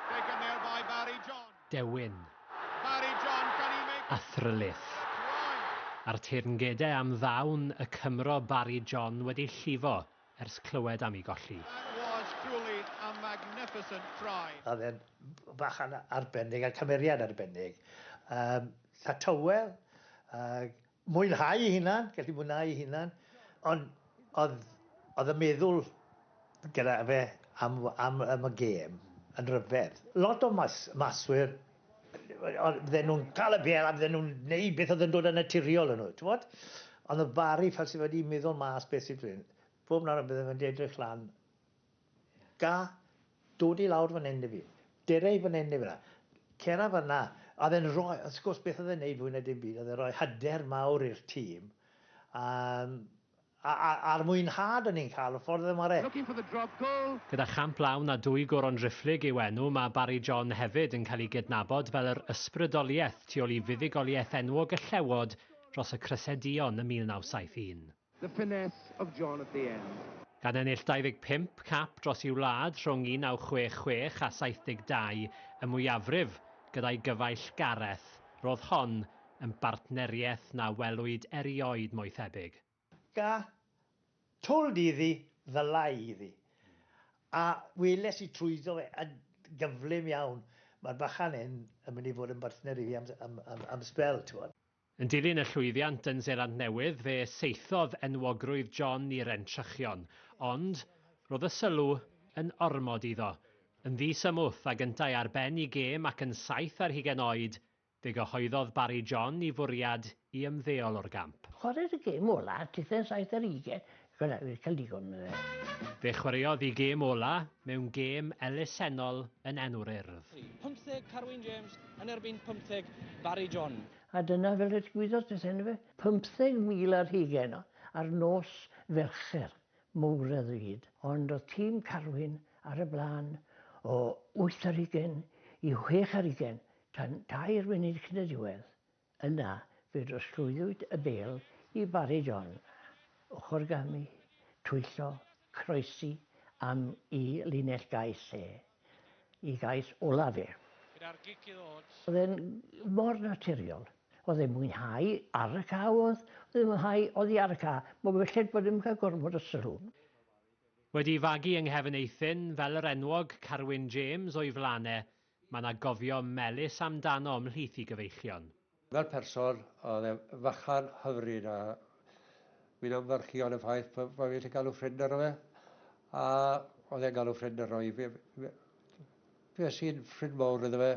Taken there by Barry John. Dewin. Barry John, can he make... A thryllith. A'r teyrngedau am ddawn y Cymro Barry John wedi llifo ers clywed am ei golli. That was truly a magnificent try. Oedd e'n bachan arbennig a cymeriad arbennig. Yym, 'tha tywel, ag Mwynhau ei hunan, gallu mwynhau ei hunan, ond oedd, oedd y meddwl gyda fe am, am, am y gêm yn rhyfedd. Lot o mas, maswyr, fydden nhw'n cael y bel a fydden nhw'n gwneud beth oedd yn dod yn naturiol yn nhw, ti'n bod? Ond oedd Barry fel sydd wedi meddwl mas beth sydd wedi, bob nawr a bydden nhw'n edrych lan Ga, dod i lawr fan hyn i fi. Dere i fan hyn i fi nawr. Cera fan 'na. A oedd e'n rhoi, wrth gwrs, beth oedd e'n neud fwy na dim byd, oedd e'n rhoi hyder mawr i'r tîm. Um, a, a, a'r mwynhad o'n ni'n cael, y ffordd oedd e'n ware. Looking for the drop goal. Gyda champ lawn a dwy goron driphlyg i'w enw, mae Barry John hefyd yn cael ei gydnabod fel yr ysbrydoliaeth tu ôl i fuddugoliaeth enwog y Llewod dros y Cressedion ym 1971. The finesse of John at the end. Gan ennill 25 cap dros ei wlad rhwng 1966 a 72, y mwyafrif gyda'i gyfaill Gareth, roedd hon yn bartneriaeth na welwyd erioed mo'i thebyg. Ca, told iddi, ddylai iddi. A weles i trwyddo fe yn gyflym iawn, mae'r bachan hyn yn mynd i fod yn bartner i fi am sbel, t'mod. Yn dilyn y llwyddiant yn Seland Newydd, fe saethodd enwogrwydd John i'r entrychion, ond roedd y sylw yn ormod iddo. Yn ddi-symwth ag yntau ar ben i gêm ac yn saith ar hugain oed, fe gyhoeddodd Barry John i fwriad i ymddeol o'r gamp. Chwaraeir y gêm olaf ar dudden saith ar hugain Fel na, fi 'di cael digon o fe. Fe chwaraeodd i gêm ola mewn gêm elusennol yn enw'r Urdd. 50 Carwyn James yn erbyn 50 Barry John. A dyna fel y digwyddodd pethau yndyfe? 50,000 ar hugain o, ar nos Felcher mowr a ddrud. Ond o'dd tîm Carwyn ar y blaen o wyth ar hugain i chwech ar hugain tan dair munud cyn y diwedd. Yna, fe drosglwyddwyd y bêl i Barry John, ochrgamu, twyllo, croesi am i linell gau lle i gais ola fe. Gyda'r gic i ddod. Oedd e'n mor naturiol. Oedd e'n mwynhau ar y ca oedd. Oedd e'n mwynhau oddi ar y ca. Mae belled bod e'm yn cael gormod o sylw. Wedi fagu yng nghefn eithin, fel yr enwog Carwyn James o'i flan e, Mae 'na gofio melys amdano ymhlith i gyfeichion. Fel person, oedd e fychan hyfryd a fi'n ymfyrchu yn y ffaith bod fi gallu galw ffrind arno fe a oedd e'n galw ffrind arno i. Fe sy'n ffrind mawr iddo fe,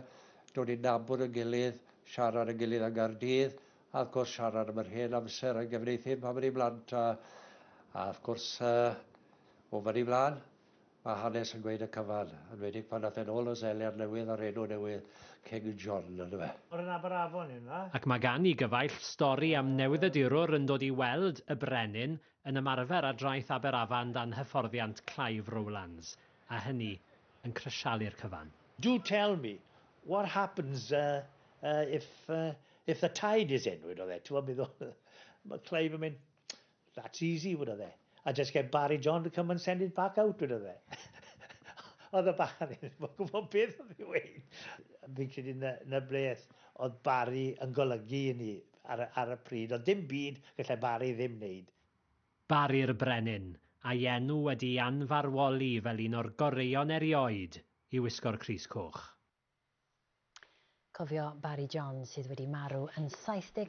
dod i nabod y gilydd, siarad y gilydd yng Nghaerdydd a wrth gwrs siarad am yr hen amser yn Gefn Eithin pan o'n i'n blant a wrth gwrs o fan i flan. Mae hanes yn gweud y cyfan, enwedig pan ath e'n ôl y Seler Newydd a'r enw newydd King John ynddo fe. O'r un aber afon yw na? Ac mae gan i gyfaill stori am newyddydurwr yn dod i weld y brenin yn ymarfer ar draeth aber afan dan hyfforddiant Clive Rowlands, a hynny yn crisialu'r cyfan. Do tell me, what happens if the tide is in, wedodd e, t'mod, meddwl, mae Clive yn mynd, That's easy, wedodd e. I just get Barry John to come and send it back out, wedodd e. oedd y bachan i ddim yn gwybod beth oedd ei weid. Fi'n credu na, na beth oedd Barry yn golygu i ni ar, ar y pryd. Oedd dim byd gallai Barry ddim wneud. Barry'r Brenin, a'i enw wedi ei anfarwoli fel un o'r goreuon erioed i wisgo'r Crys Coch. Cofio Barry John sydd wedi marw yn 79